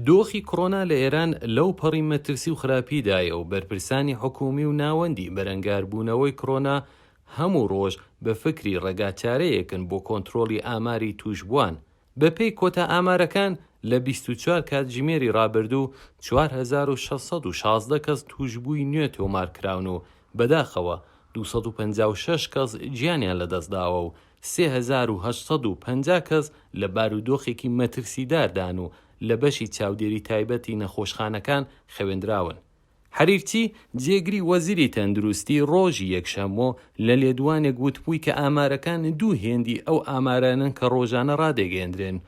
دۆخی کڕۆنا لە ئێران لەو پەڕی مەترسی و خراپی دایە و بەرپرسانی حکوومی و ناوەندی بەرەنگار بوونەوەی کڕۆنا هەموو ڕۆژ بە فکری ڕێگا چارەیەکن بۆ کۆنترۆڵی ئاماری تووشبووان. بە پێی کۆتا ئامارەکان لە بیست و چوار کاتژمێری ڕابردوو چوار هەزار و شەش سەد و شازدە کەس تووشبووی نوێ تۆمار کراون و بەداخەوە دوو سەد و پەنجا و شەش کەس گیانیان لە دەست داوە و سێ هەزار و هەشت سەد و پەنجا کەس لە بارودۆخێکی مەترسیداردان و لە بەشی چاودێری تایبەتی نەخۆشخانەکان خەوێندراون. حەریرچی، جێگری وەزیری تەندروستی ڕۆژی یەکشەممۆ لە لێدوانێک وتبووی کە ئامارەکان دوو هێندی ئەو ئامارانەن کە ڕۆژانە ڕادەگەیەندرێن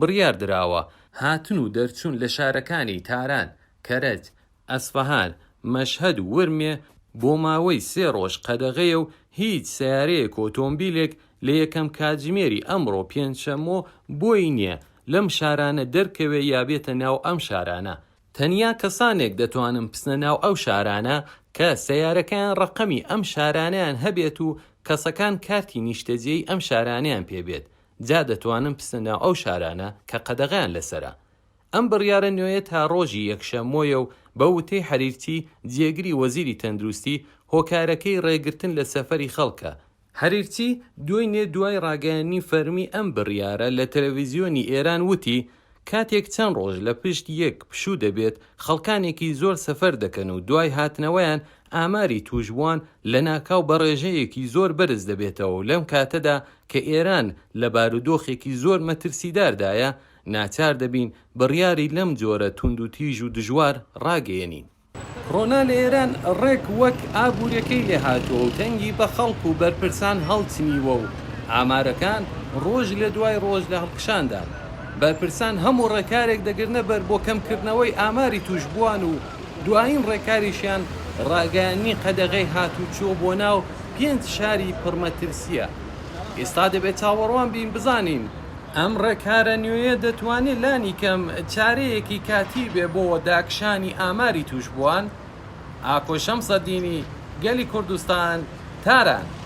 بڕیار دراوە، هاتن و دەرچوون لە شارەکانی تاران، کەرەج، ئەسفەهان، مەشهەد و ورمێ بۆ ماوەی سێ ڕۆژ قەدەغەیە و هیچ سەیارەیەک و ئۆتۆمبیلێک لە یەکەم کاتژمێری ئەمڕۆ پێنجشەممۆ بۆی نییە لەم شارانە دەرکەوێ یا بێتە ناو ئەم شارانە، تەنیا کەسانێک دەتوانن بچنە ناو ئەو شارانە کە سەیارەکەیان ڕەقەمی ئەم شارانەیان هەبێت و کەسەکان کارتی نیشتەجێی ئەم شارانەیان پێ بێت، جا دەتوانن بچنە ناو ئەو شارانە کە قەدەغەیان لەسەرە. ئەم بڕیارە نوێیە تا ڕۆژی یەکشەمۆیە و بە وتەی حەریرچی، جێگری وەزیری تەندروستی، هۆکارەکەی ڕێگرتن لە سەفەری خەڵکە. حەریرچی دوێنێ دوای ڕاگەیاندنی فەرمی ئەم بڕیارە لە تەلەڤیزیۆنی ئێران وتی، کاتێک چەند ڕۆژ لە پشت یەک پشوو دەبێت، خەڵکانێکی زۆر سەفەر دەکەن و دوای هاتنەوەیان ئاماری تووشبووان لەناکاو بە ڕێژەیەکی زۆر بەرز دەبێتەوە و لەم کاتەدا کە ئێران لە بارودۆخێکی زۆر مەترسیداردایە، ناچار دەبین بڕیاری لەم جۆرە توندوتیژ و دژوار ڕاگەیەنین. کۆرۆنا لە ئێران ڕێک وەک ئابوورییەکەی لێ هاتووە و تەنگی بە خەڵک و بەرپرسان هەڵچنیوە و ئامارەکان ڕۆژ لە دوای ڕۆژ لە هەڵکشاندان. بەرپرسان هەموو ڕێکارێک دەگرنە بەر بۆ کەمکردنەوەی ئاماری تووشبووان و دوایین ڕێکاریشیان ڕاگەیاندنی قەدەغەی هاتووچۆ بۆ ناو پێنج شاری پڕمەترسییە. ئێستا دەبێ چاوەڕوان بین بزانین. ئەم ڕێکارە نوێیە دەتوانێت لانیکەم چارەیەکی کاتی بێت بۆ داکشانی ئاماری تووشبووان، ئاکۆ شەمسەدینی، گەلی کوردستان، تاران.